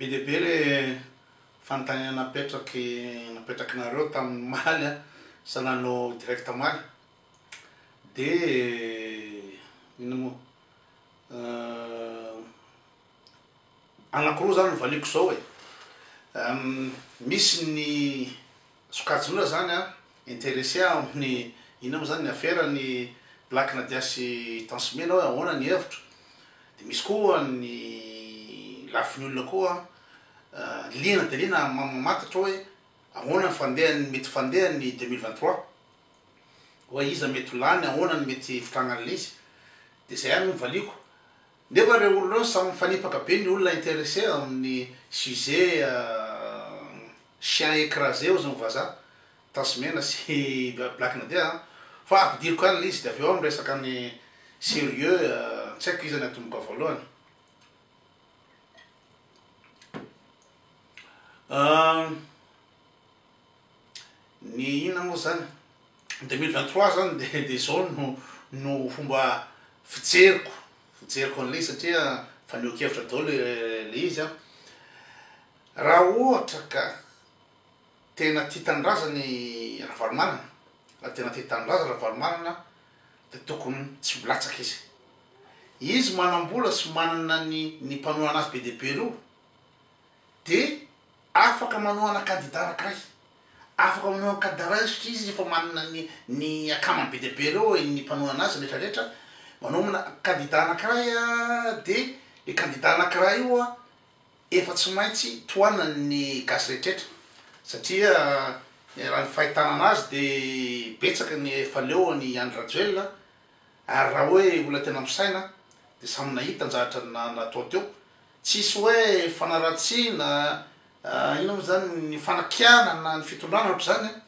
Be dia be le fanontaniana napetraky napetrakinareo tamin'ny omaly a, sa nanao direct omaly? De inona moa? Anankiroa zany no valiako zao e, misy ny. Sokajinona zany an, interesse aho amin'ny inona moa zany ny afera an'i Black Nadia sy Tansme na hoe ahoana ny hevitro? Dia misy koa ny lafiny olona koa liana dia liana mamantatra hoe ahoana ny fandehany, mety fandeha ny deux mille vingt trois? Hoe iza mety ho lany, ahoana ny mety hivitragna an'ilay izy? Dia zay ihany no valiako, Nefa ireo olona ireo samy mifanipaka be ny olona interesse amin'ny sujet chien écrasé hozy ny vazaha, Tasimena sy Black Nadia an! fa ampidiriko any le izy dia avy eo aho miresaka ny serieux, tsy haiko iza ny atomboka voalohany. Ny inona moa izany? Ny deux mille vingt trois izany dia dia izao no no fomba fijeriko fijeriko an'ilay izy satria fanehoan-kevitra daholo ilay izy an. Raha ohatra ka tena tia tanindrazana i Ravalomanana, raha tena tia tanindrazana Ravalomanana dia tokony tsy ho latsaka izy. Izy manam-bola sy manana ny ny mpanohana azy be dia be ireo. dia afaka manohana kandida anankiray, afaka manohana kandida iray satria izy efa manana ny ny akamany be dia be ireo ny mpanohana azy rehetra rehetra, manomana kandida anankiray dia le kandida anankiray io efa tsy maintsy tohanan'ny gasy rehetra rehetra satria raha ny fahitana an'azy de betsaka ny efa leo an'i Andry Rajoelina ary raha hoe olona tena misaina de samy nahita ny zavatra na- natao teo. Tsisy hoe fanaratsiana inona moa zany ny fanakianana ny fitondrana ohatry zany a!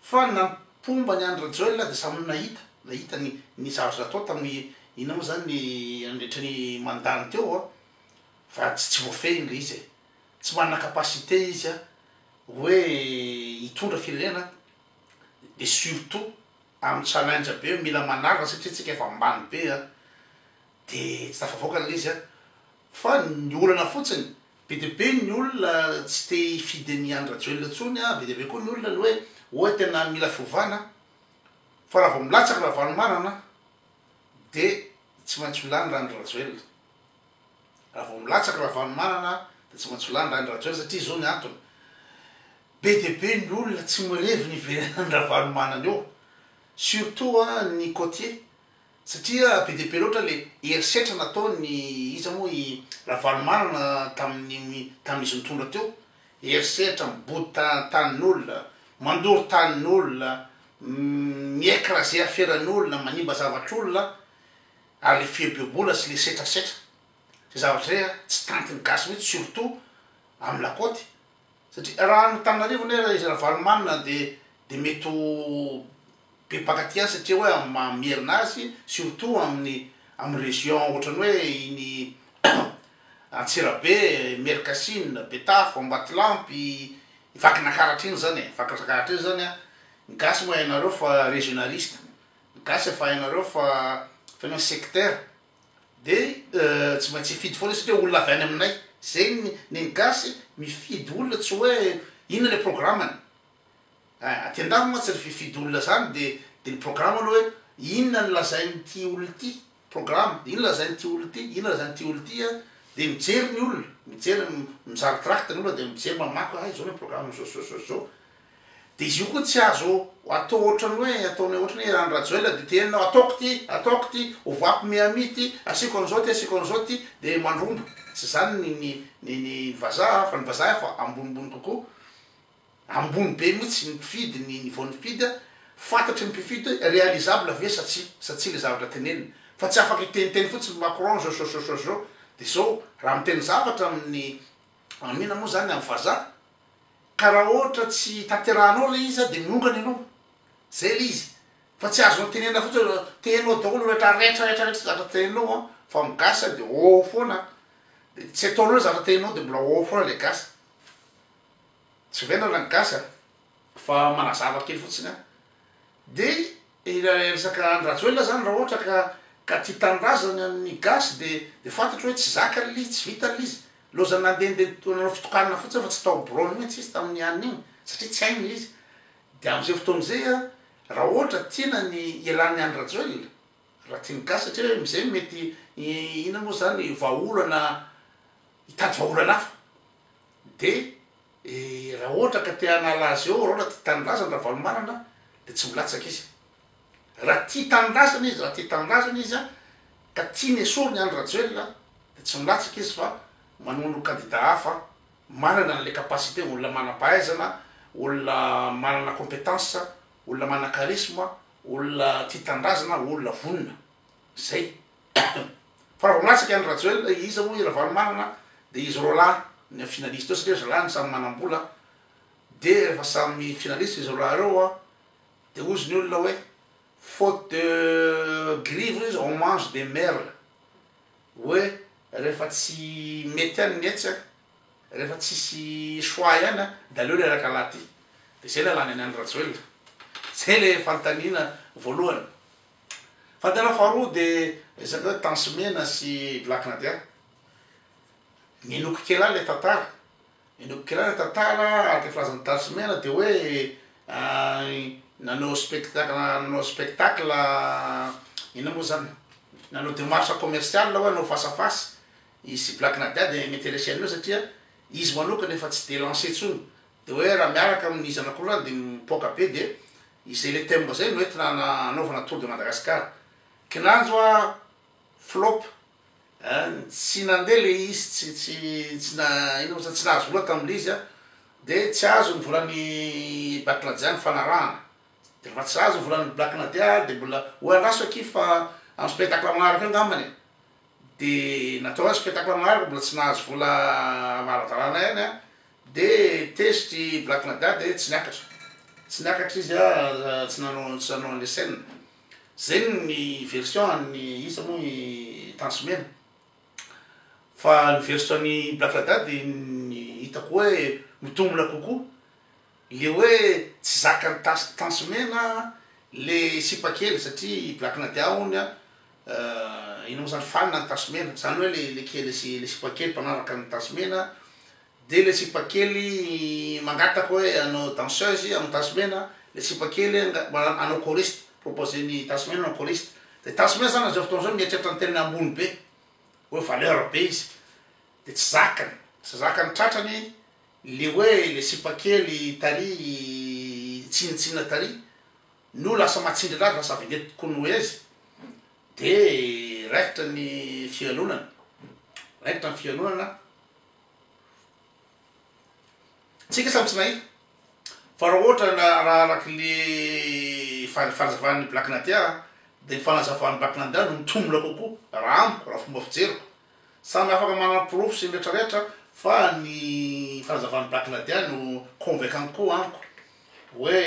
fa ny nampomba ny Andry Rajoelina dia samy nahita nahita ny ny zavatra natao tamin'ny inona moa zany ny nandritra ny mandat-ny teo a! fa tsy tsy voafehiny ilay izy e! tsy manana capacité izy a! hoe hitondra firenena dia surtout amin'ny challenge be mila manarina satria tsika efa ambany be a! Dia tsy tafavoaka ilay izy an! Fa ny olana fotsiny, be dia be ny olona tsy te hifidy an'i Andry Rajoelina intsony an! Be dia be koa ny olona ny hoe oe tena mila fiovana an! Fa raha vao milatsaka Ravalomanana an! Dia tsy maintsy ho lany Randry Rajoelina. Raha vao milatsaka Ravalomanana an! Dia tsy maintsy ho lany Randry Rajoelina satria izao ny antony, be dia be ny olona tsy mirevy ny hiverenan'i Ravalomanana eo, surtout an ny côtiers. Satria be dia be loatra ilay herisetra nataon'i, iza moa, i Ravalomanana tamin'ny, tamin'izy nitondra teo. Herisetra mibota tanin'olona, mandoro tanin'olona, mi-ecraser aferan'olona, manimba zavatr'olona, ary ilay fieboebola sy ilay setrasetra. Izay zavatra izay tsy tantin'ny gasy mihitsy, surtout amin'ny lakaoty. Satria raha any Antananarivo anie ra izy Ravalomanana dia dia mety ho be mpakatia azy satria hoe amin'ny maha Merina azy surtout amin'ny amin'ny région ohatran'ny hoe iny Antsirabe, Mercasina, Betafo, Ambatolampy, Vakinakaratra iny zany e, Vakinakaratra iny zany an, ny gasy moa hainareo fa régionaliste, ny gasy efa hainareo fa tena sectaire, Dia tsy maintsy hifidy foana isika hoe olona avy any aminay. Izay ny ny ny gasy mifidy olona tsy hoe inona ilay programany. Ein, aty an-dafy mantsy ny fifidy olona izany dia dia ny programa aloha hoe inona no lazain'ity olona ity, programa, inona lazain'ity olona ity, inona lazain'ity olona ity an, dia mijery ny olona, mijery, mizaha ny tract ny olona dia mijery mamaky hoe hay izao ny programan'izao izao izao izao. Dia izy io koa tsy azo atao ohatran'ny hoe ataonay ohatran'ny hoe Andry-Rajoelina dia te henona ataoko ity, ataoko ity, ovako Miami ity, asiako an'izao ity, asiako an'izao ity, dia mandromba. Tsy izany ny ny ny ny vazaha an, fa ny vazaha efa ambonimbony kokoa, ambony be mihitsy ny mpifidy, ny niveau-n'ny mpifidy an, fantatry ny mpifidy hoe réalisable ve sa tsia, sa tsia ilay zavatra teneniny. Fa tsy afaka hiteniteny fotsiny Macron zao so so so so dia izao, raha miteny zavatra amin'ny, amin'inona moa izany, amin'ny vazaha, Ka raha ohatra tsy tanterahanao ilay izy dia miongana ianao, zay ilay izy, fa tsy azonao tenenina fotsiny hoe tenao daholo rehetra rehetra rehetra rehetra zavatra teninao an, fa ny gasy an dia ôô foana an, dia tsy ataonao ilay zavatra teninao dia mbola ôô foana ilay gasy, tsy vendrana ny gasy an, fa manazava kely fotsiny an, dia. Ilay resaka Andry Rajoelina zany raha ohatra ka ka tia tanindrazana ny gasy de de fantatro hoe tsy zakany lay izy tsy vitany lay izy lozany nandendeha to- nanao fitokanana fotsiny fa tsy tao biraony mihitsy izy tamin'ny alina iny satria tsy hainy lay izy de am'zay fotoana zay a raha ohatra tiana ny hialan'ny Andry Rajoelina raha tian'ny gasy satria hoe am'zay mety i- inona moa zany vahaolana hitady vahaolana hafa de raha ohatra ka te hanala azy eo rahoana tia tanindrazany Ravalomanana de tsy milatsaka izy raha tia tanindrazany izy raha tia tanindrazany izy ka tiany esoriny Andry Rajoelina de tsy milatsaka izy fa manono kandida hafa manana anle capacité olona manampahaizana olona manana competence olona manana charisme olona tia tanindrazana olona vonona zay Fa raha vao milatsaka any Rajoel iza moa i Ravalomanana de izy roa lahy ny finaliste eo satria zalahy no samy manambola de rehefa samy finaliste izy roa lahy reo a de ozy ny olona oe faute de grille ve izy on mange des merles oe rehefa tsy mety any ny etsy a rehefa tsisy choix ihany a de aleo reraka lahy ty de zay lalàna ny any Rajoel zay le fanontaniana voalohany. Fadina faharoa dia resaka hoe tansy mena sy black nadia. Minoako kely ahy ilay tantara, minoako kely ahy ilay tantara ary ilay filazan'i tansy mena dia hoe nanao spectacle nanao spectacle inona moa zany nanao démarche commerciale hoe hanao face à face i sy black nadia dia m'interessé an'io satria izy manokana efa tsy dia lancé intsony dia hoe raha miaraka amin'ny zanak'olona any dia mipoaka be dia Izay le thème zay no entina anaovana tour de Madagascar. Kinanjo a flop eh tsy nandeha le izy tsy tsy tsy na ino mo zany tsy nahazo vola tam le izy a de tsy azo ny volan'ny Batladia nifanarahana de refa tsy azo ny volan'ny Black Nadia de mbola ho andraso akia fa am spectacle manaraka eo ngambany e. Dia natao ihany spectacle maro mbola tsy nahazo vola varavarana ihany an, dia tezitra i Black Nada dia tsy niakatra, tsy niakatra izy an, tsy nanao tsy nanao an'ilay scène, zay ny version an'i iza moa i Tanjomena, fa ny version an'i Black Nada dia ny hitako hoe mitombina kokoa. Le hoe tsy zakan'i Tasy Tansy Mena le sipa kely satria i Black Nadia hono a ino mo zany fan an'i Tasy Mena zany hoe le le kely sy le sipa kely mpanaraka an'i Tasy Mena de le sipa kely mangataka hoe hanao danseuse amin'i Tasy Mena le sipa kely anga- mana- hanao choriste proposer-n'i Tasy Mena hanao choriste de Tasy Mena zany am'zao fotoana zao mieritreritra ny tenany ambony be hoe valeur be izy Dia tsy zakany, tsy zakany tratrany le hoe le sipa kely tary tsinintsinina tary no lasa matsindry anazy lasa vedette kunuezi de raikitra ny fialonana raikitra ny fialonana tsika samy tsy nahita fa raha ohatra raha araky le fanazavany black nadia de ny fanazavan'ny black nadia no mitomina kokoa raha amiko raha fomba fijeriko Samy afaka manana porofo sy ny rehetra rehetra fa ny fanazavan'i Bakladia no convaincant kokoa amiko hoe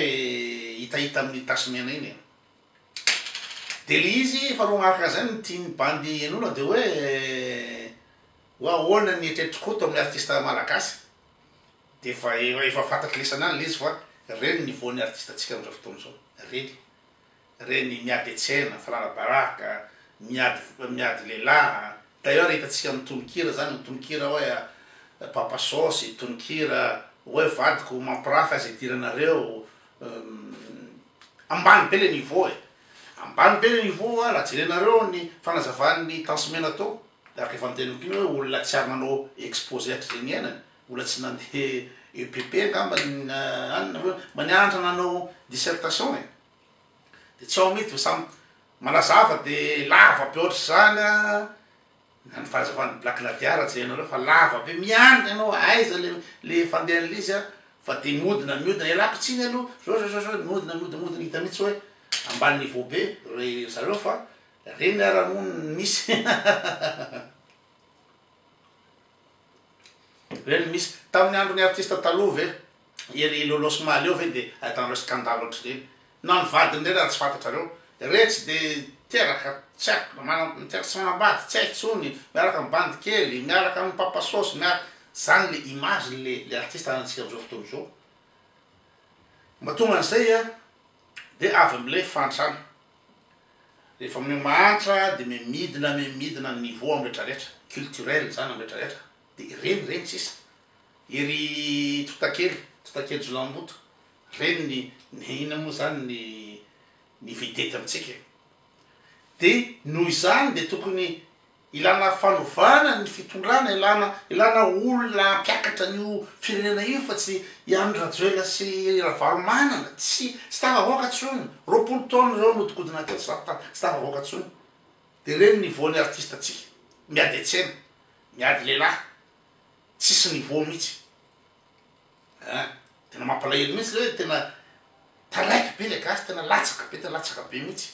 hitahita amin'iny tasy mena iny e! Dia le izy faharoa manaraka an'izay no tian'ny bandy henoina dia hoe hoe ahoana ny eritreritr'i Koto amin'ny artista malagasy? Dia efa efa fantatr'i Lesana any le izy fa ireny ny voan'ny artistantsika amin'izao fotoana izao, ireny. reny miady hetsena, farara baraka, miady miady lehilahy, d'ailleurs hitantsika amin'ny tononkira zany ny tononkira hoe papa saosy, tononkira hoe vadiko mampirafy aza idiranareo, ambany be le niveau e, ambany be le niveau a, raha jerenareo ny fanazavan'ny tansimena tao de araka efa noteneniko iny hoe olona tsy ary nanao expose hatrizay niainany, olona tsy nandeha EPP angamba na any nareo, mba nianatra nanao dissertation e, de tsy ao mihintsy fa samy manazava de lava be ohatr'izany a na ny fanazavan'ny black nadia raha jerenareo fa lava be miandry ianao aiza le le fandehan'le izy a fa de miodina miodina ialako tsiny aloha zao zao zao zao miodina miodina miodina hita mihitsy hoe ambany niveau be re zareo fa reny ara moa ny misy Ve ny misy tamin'ny andron'ny artista taloha ve? Ery Lolo sy Maly eo ve dia ahitanareo scandale ohatr'ireny? Na ny vadiny ireny raha tsy fantatrareo? Ireny tsy dia teraka, tsy haiko na manam, miteraka sy manambady, tsy hay intsony, miaraka amin'ny bandy kely, miaraka amin'ny mpapa saosy, miaraka, zany le image le le artista anantsika amin'izao fotoana izao. Mba tonga an'izay a! Dia avy mle fantsana. Rehefa mle mahantra dia mle midina mle midina ny niveau am rehetra rehetra. Culturel zany am rehetra rehetra. Dia ireny ireny sisa. Ery Totakely, Totakely Jolahimboto, ireny ny ny inona moa zany ny ny vedety amintsika e. Dia noho izany dia tokony Ilana fanovana ny fitondrana, ilana ilana olona hampiakatra an'io firenena io fa tsy i Andry Rajoelina sy i Ravalomanana, tsy tsy tafavoaka tsony, roapolo taona zao nihodikodina teo tsy ta tsy tafavoaka tsony, de re ny niveau ny artiste tsika, miady antsena, miady lehilahy, tsisy niveau mitsy a, tena mampalahelo mitsy le oe tena taraiky be le gasy tena latsaka be tena latsaka be mitsy.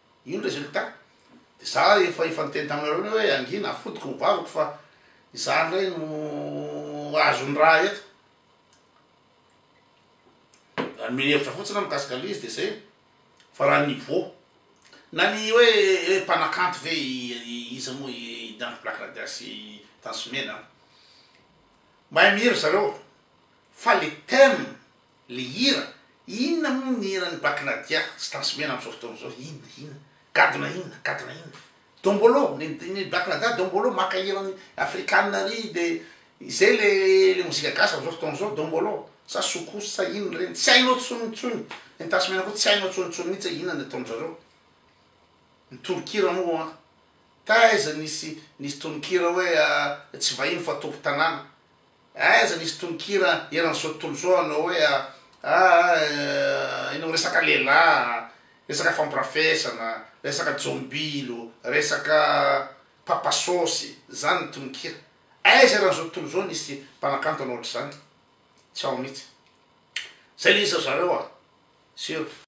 Io ny résultat. Dia za efa efa niteny taminareo indray hoe angina afotiko ny vavako fa izaho indray no azo ny raha eto. Raha nomeny hevitra fotsiny aho mikasika an'ilay izy dia izay. Fa raha ny niveau na ny hoe hoe mpanakanto ve iza moa i Danko Black Rada sy i Tansu Mena an. Mahay mihira ry zareo fa le thème Le hira, inona moa ny hiran'i Bac Nadia tsy transmena amzao fotoana zao, inona, inona, gadona inona, gadona inona, dombolo, ny ny Bac Nadia dombolo, maka hiran'ny afrikana ary de izay le le mozika gasy amzao fotoana zao dombolo, sa soukous sa inona reny, tsy hainao tsony intsony, ny transmena koa tsy hainao tsony tsony mintsy hoe inona ny ataonjareo, ny tononkira moa an, taiza nisy nisy tononkira hoe tsy vahiny fa tompon-tanàna. Aiza nisy tononkira eran'i zao tontolo zao hanao hoe ah ah eh enao resaka lehilahy, resaka fampirafesana, resaka jombilo, resaka papa sôsy, zany ny tononkira. Aiza eran'izao tontolo izao nisy mpanakanto hanao ohatr'izany? Tsy ao mihitsy. Zay le izy ry zareo a! Sûr.